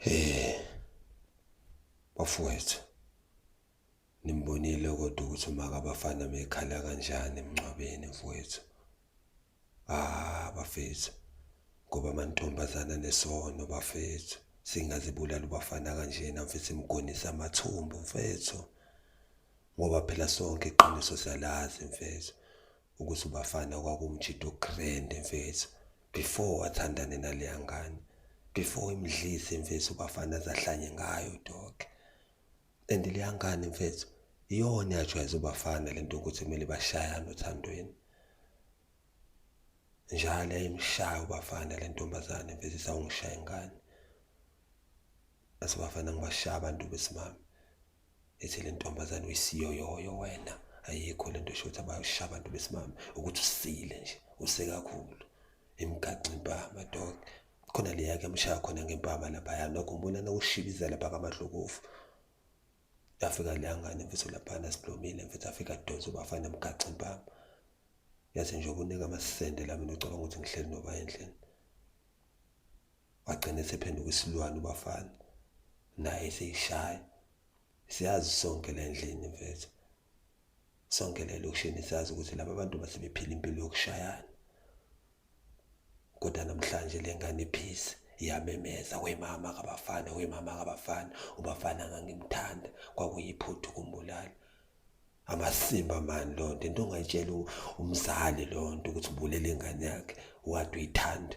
Hey. Bafowethu. Nimbonile kodwa ukuthi umaka abafana mekhala kanjani emncwabeni mfowethu. Ah bafethu. Ngoba amantombazana nesono bafethu. Singazibulala ubafana kanjena mfethu imgonisa amathumbu mfethu. Ngoba phela sonke iqiniso siyalazi mfethu. ukuthi ubafana kwakumjida ugrand mfethu before wathandane naleya ngane before imdlise mfethu ubafana azahlanye ngayo dog and leya ngane mfethu iyona yajwayeza ubafana lento ukuthi kumele bashayane othandweni njalo yayimshaya ubafana le ntombazane mfethu isawungishaya ingane asibafana ngibashaya abantu besimame ethi le ntombazane uyisiyoyoyo wena ayikho le nto shothi abayosha abantu besimame ukuthi usile nje usekakhulu imgaxa impama dog khona leya kuyamshaya khona ngempama laphaya nokho ngibona nokushibiza lapha kamahlokofu yafika leya ngane mfethu laphana siblomile mfethu afika donsa ubafana mgaxa impama yathi nje ukunika amasende la mina ucabanga ukuthi ngihleli noba endlini wagcina esephenduka isilwane ubafana naye seyishaya siyazi sonke le ndlini mfethu sonke le lokishini siyazi ukuthi laba bantu basebephila impilo yokushayana kodwa namhlanje le ngane iphisi iyamemeza wemama kabafana wemama kabafana ubafana ngangimthanda kwakuyiphuthu kumbulala amasimba mani loo nto into ongayitshela umzali loo nto ukuthi ubulele ingane yakhe wade uyithanda